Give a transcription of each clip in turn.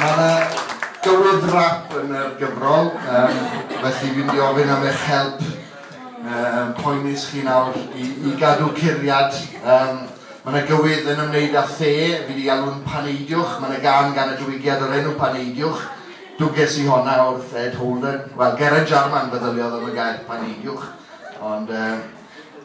Mae yna gywydd rap yn yr gyfrol, um, felly fi'n di ofyn am eich help um, poenus chi nawr i, i gadw curiad. Um, mae yna gywydd yn ymwneud â the, fi wedi alw'n paneidiwch, mae yna gan gan y diwygiad o'r enw paneidiwch. Dwges i honna wrth Ed Holden, wel Geraint Jarman feddyliodd am y gair paneidiwch, ond um,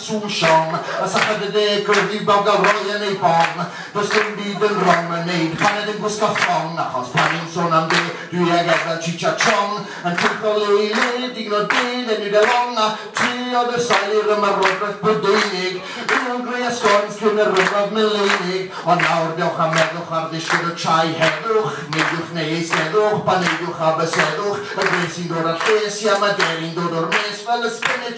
Trwsion, a syched y deg gwyrdd yw bawb ga'l roi yn eu bong Does dim byd yn rong yn neud paned yn gwisgo thong Achos pan ni'n son am de, dwi ag ef fel Cheech a Chong Yn teithio le i le, digon o de, then you get long A treuliodd y sail i'r ymarwodraeth Brydeinig Eon Grey a Scones cyn y Rhyfel Mileinig Ond nawr dewch a meddwch ar ddisgyn y trae Heddwch, neidiwch neu eisteddwch, baneidiwch a byseddwch Y gwres sy'n dod a'r lles, ia ma' deri'n dod o'r mes Fel y spinach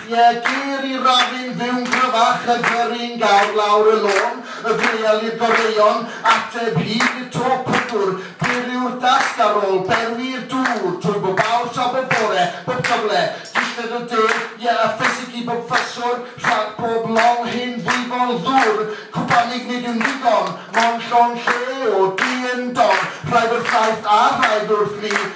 Piedir i Rafin fu'n gryfach, y gyrru'n gawr lawr y lôn, y filial i'r goreuon, ateb hyd i'r to pydwr, dir yw'r dasg ar ôl, berwi i'r dŵr, trwy bob awr tra bob bore, bob cyfle, dillad o de, ie, a ffisig i bob ffyswr, rhag pob long hen ddwyfol ddwr, cwpanig nid yw'n ddigon, mond llond lle o du yn don, rhaid wrth Aifft a rhaid wrth lu,